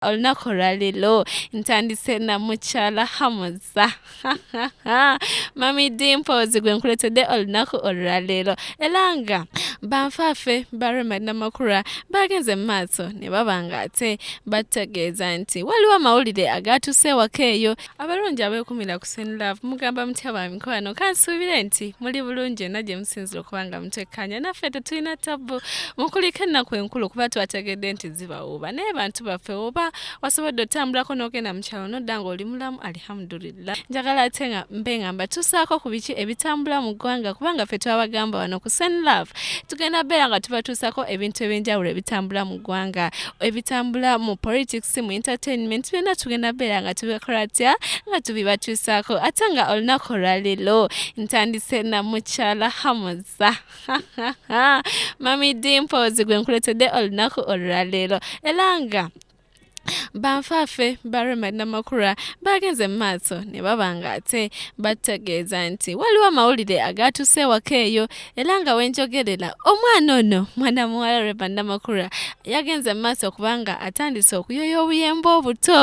olunaku olwaleero ntandise na mukyala hamuza mami dimples gwe nkuletedde olunaku olwaleero era nga banfaafe baremad namakula bagenze mu maaso ne baba nga ate bategeeza nti waliwo amawulire agaatuuse ewaka eyo abalungi abeekumira ku Sweet Love mugamba mutya ba mikwano kansuubire nti muli bulungi yonna gye musinzira okuba nga mutekkaanya naffe tetulina tabbu mukulika ennaku enkulu kuba twategedde nti zibawuuba naye bantu baffe oba wasobodde otambulako n'ogenda mu kyalo nodda ng'oli mulamu alihamudulillah njagala ate nga mbe nga mbatuusaako ku biki ebitambula mu ggwanga kubanga ffe twabagamba wano ku Sweet Love tugenda beera nga tubatuusako ebintu eby'enjawulo ebitambula mu ggwanga ebitambula mu politics mu entertainment byonna tugenda beera nga tubikola tya nga tubibatuusaako ate nga olunaku olwaleero ntandise na mukyala hamuza mami dimpozi gwe nkuletedde olunaku olwaleero era nga banfaafe ba remad namakula baagenze mu maaso ne baba nga ate bategeeza nti waliwo amawulire agaatuuse ewaka eyo era nga wenjogerera omwana ono mwana muwala reba namakura yagenze mu maaso kubanga atandise okuyoya obuyemba obuto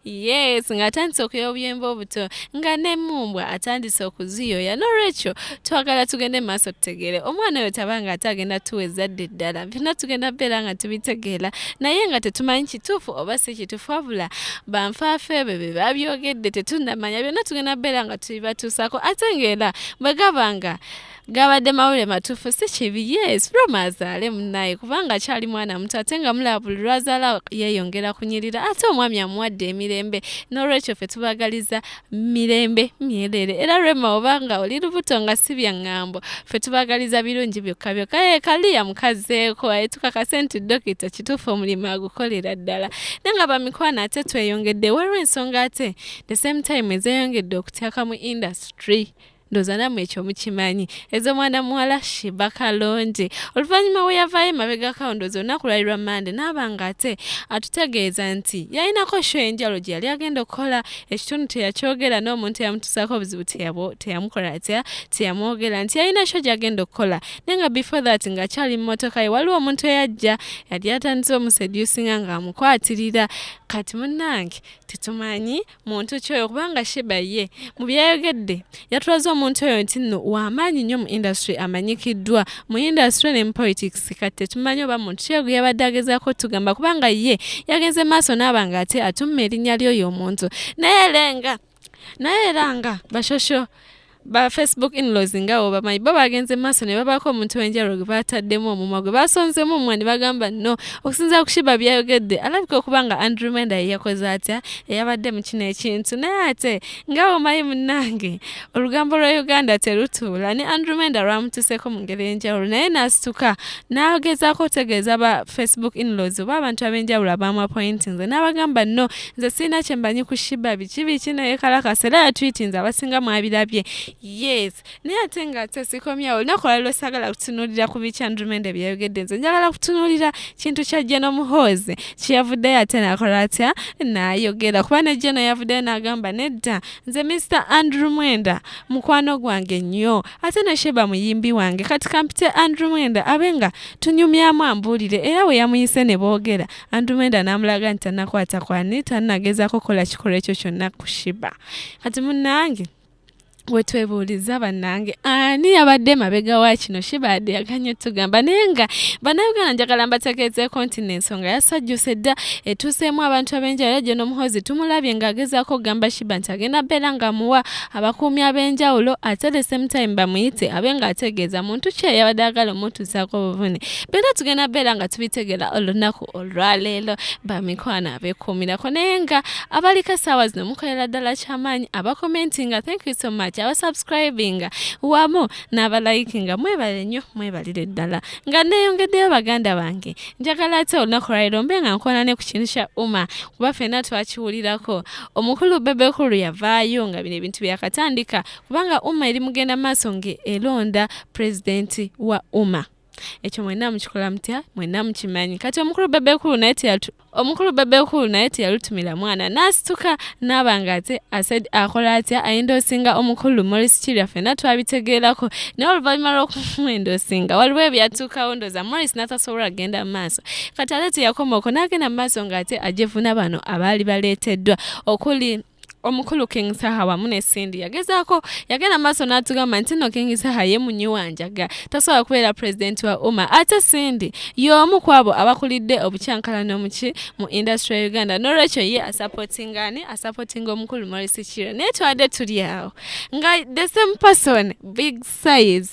yes nga atandise okuyoya obuyemba obuto nga nemumbwa atandise okuziyoya nolwekyo twagala tugende mu maaso tutegeere omwana oyo tabanga ate agenda tuwa ezadde ddala byonna tugenda beera nga tubitegeera naye nga tetumanyi kituufu oba si kituufu wabula banfaafe ebyo bye babyogedde tetunamanya byonna tugenda beera nga tubibatuusako ate ngaera bwe gaba nga gabadde mawulire matuufu si kibi yes roma azaale munnaye kubanga akyali mwana muto ate nga mulaba buli lwazaala yeeyongera kunyirira ate omwami amuwadde emirembe n'olwekyo ffe tubagaliza mirembe myereere era rema obanga oli lubuto nga si bya ŋŋambo ffe tubagaliza birungi byokka byokka ye kaliya mukazeeko aye tukakase nti dokita kituufu omulimu agukolera ddala ne nga bamikwano ate tweyongedde waliwo ensonga ate the same time ezeyongedde okutyaka mu industry tree ndoza namwe ekyo mukimanyi ezo mwana muwala shiba kalonje oluvannyuma we yavaayo emabega kawundozi olunaku lwali lwa mande naaba nga ate atutegeeza nti yalinako sho enjalo gye yali agenda okukola ekitundu teyakyogera n'omuntu eyamutusaako obuzibu teyamukola atya teyamwogera nti yalina sho gyagenda okukola naye nga before that ngaakyali mu motoka ye waliwo omuntu eyajja yali atandise omusedusinga ng'amukwatirira kati munnange tetumanyi muntu ki oyo kubanga shiba ye mu byayogedde yatulaze omuntu oyo nti nno wamaanyi nnyo mu industry amanyikiddwa mu industry ne mu politics kati tetumanyi oba muntu ki oyo yabadde agezaako tugamba kubanga ye yagenze maaso naaba nga ate atumma erinnya ly'oyo omuntu naye era nga naye era nga bashosho ba facebook inlaws nga oba manyi bo bagenze maaso ne babaako omuntu wenjalo gwe baataddemu omumwa gwe basonzemu omumwa ne bagamba no okusinzira ku shiba byayogedde alabika okuba nga andrew menda ye yakoze atya eyabadde mu kino ekintu naye ate nga omanyi munnange olugambo lwa uganda terutuula ne andrew menda lwamutuseeko mu ngeri enjawulo naye n'asituka n'agezaako otegeeza ba facebook inlaws oba abantu ab'enjawulo abaamuapointinze n'abagamba no nze sirina kyembanyi ku shiba biki biki naye kalakasa era yatwitinze abasinga mwabirabye yes naye ate nga ate sikomyawo olunaku olwaliro sagala kutunuulira ku biki andrumende byeyogedde nze njagala kutunuulira kintu kya jeno muhoozi kyeyavuddeyo ate nakola atya nayogera kuba ne jeno yavuddeyo nagamba nedda nze mr andrew mwenda mukwano gwange nnyo ate ne sheba muyimbi wange kati kampite andrew mwenda abe nga tunyumyamu ambuulire era we yamuyise ne boogera andumenda n'amulaga nti tanakwata kwani tanagezaako kukola kikolwa ekyo kyonna kushiba kati munange wetwebuuliza bannange ani yabadde mabega wa kino shibaade yaganye tugamba naye nga bannayuganda njagala mbategeezeeko nti n'ensonga yasajjuse dda etuuseemu abantu ab'enjawulo gye n'omuhozi tumulabye ng'agezaako okugamba shiba nti agenda beera ng'amuwa abakuumi ab'enjawulo ate the same time bamuyite abe ng'ategeeza muntu ki eyabadde agala omutuusaako obuvune era tugenda beera nga tubitegera olunaku olwaleero bamikwano abekuumirako naye nga abaliko essaawa zino mukolera ddala kyamaanyi abakomentinga thank you so much abasubscribinga wamu n'abalayikinga mwebale nnyo mwebalire ddala nga neeyongeddeyo baganda bange njagala ate olunaku lwaleero mbe nga nkona ne ku kintu kya uma kuba fenna twakiwulirako omukulu bebekulu yavaayo nga bino ebintu byakatandika kubanga uma eri mugenda maaso ng'elonda pulezidenti wa uma ekyo mwenna mukikola mutya mwenna mukimanyi kati omukulu bebekulu naye teyatu omukulu bebekulu naye teyalutumira mwana n'asituka n'aba nga ate asaid akola atya ayindoosinga omukulu morris kirya fenna twabitegeerako naye oluvannyuma lw'okumwendoosinga waliwo ebyatuukawo ndooza morris n'atasobola kugenda mu maaso kati ate teyakomaoko n'agenda mu maaso ng'ate ajevuna bano abaali baleeteddwa okuli omukulu king saha wamu ne cindy yagezaako yagenda maaso n'atugamba nti no king saha ye munyi wanjaga tasobola kubeera pulezidenti wa uma ate cindy y'omu ku abo abakulidde obukyankalano muki mu industry ya uganda n'olwekyo ye asapotinga ani asapotinga omukulu morris kiro naye twadde tuli awo nga the same person big size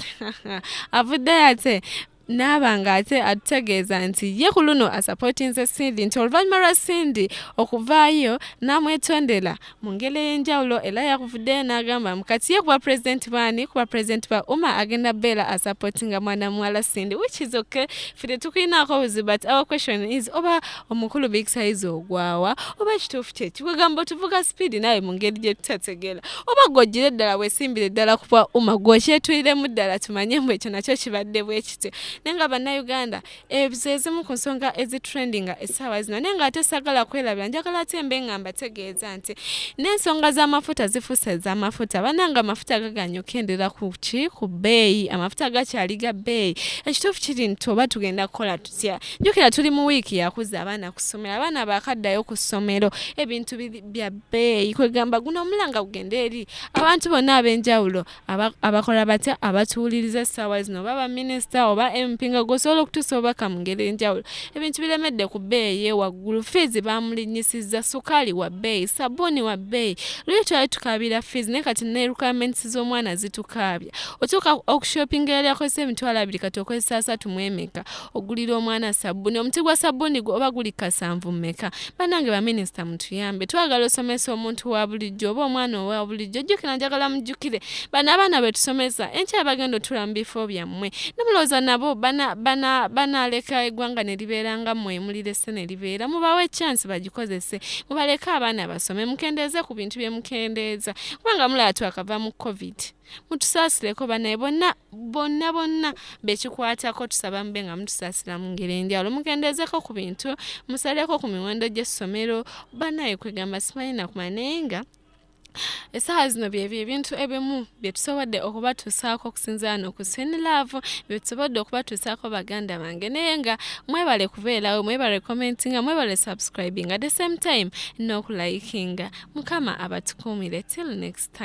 avuddeyo ate naaba nga ate atutegeeza nti ye ku luno asapotinze Cindy nti oluvannyuma lwa Cindy okuvaayo n'amwetondera mu ngeri ey'enjawulo era yakuvuddeyo n'agamba mu kati ye kuba pulezidenti baani kuba pulezidenti ba uma agenda beera asapotinga mwana muwala Cindy which is okay ffe tetukulinaako buzibu but our question is oba omukulu big size ogwawa oba kituufu kyeki kwegamba otuvuga sipiidi naawe mu ngeri gye tutategeera oba gwojjire ddala wesimbire ddala kuba uma gwokyetuliremu ddala tumanye mbu ekyo nakyo kibadde bwekityo naye nga bannayuganda ezo ezimu ku nsonga ezitrendinga essaawa zino naye nga ate sagala kwerabira njagala ate mbe nga mbategeeza nti n'ensonga z'amafuta zifuuse ez'amafuta bananga amafuta gaganya okukendera ku ki ku bbeeyi amafuta gakyali ga bbeeyi ekituufu kiri nti oba tugenda kukola jukira tuli mu wiiki yakuza abaana ku ssomero abaana baakaddayo ku ssomero ebintu bya bbeeyi kwegamba guno omulanga gugende eri abantu bonna ab'enjawulo abakola batya abatuwuliriza essaawa zino oba baminisita oba mp nga gwosobola okutuusa obubaka mu ngeri enjawulo ebintu biremedde ku bbeeyi ewaggulu fiizi baamulinnyisizza sukaali wa bbeeyi sabbuuni wa bbeeyi luli twali tukaabira fiizi naye kati ne requirements z'omwana zitukaabya otuuka okushopinga yali akozesa emitwalo abiri kati okozesa asatu mu emeka ogulira omwana sabbuuni omuti gwa sabbuuni gwe oba guli kasanvu mumeka banange baminisita mutuyambe twagala osomesa omuntu wa bulijjo oba omwana owa bulijjo jjukira njagala mujjukire bano abaana betusomesa enkya bagenda otula mu bifo byammwe nemulowooza nabo banaaleka eggwanga ne libeera nga mmwe emulirese ne libeera mubawe echansi bagikozese mubaleke abaana basome mukendeeze ku bintu bye mukendeeza kubanga mulaba twakava mu covid mutusaasileko banaye bonna bonna bonna bekikwatako tusaba mube nga mutusaasira mu ngeri enjawulo mukendeezeko ku bintu musaleko ku miwendo gy'essomero banaye kwegamba simanyi nakumanya naye nga essaawa zino byebyo ebintu ebimu byetusobodde okubatuusaako okusinzira no ku sinilaavu byetusobodde okubatuusaako baganda bange naye nga mwebale kubeerawo mwebale commentinga mwebale subscribing at the same time n'okulayikinga mukama abatukuumire till next time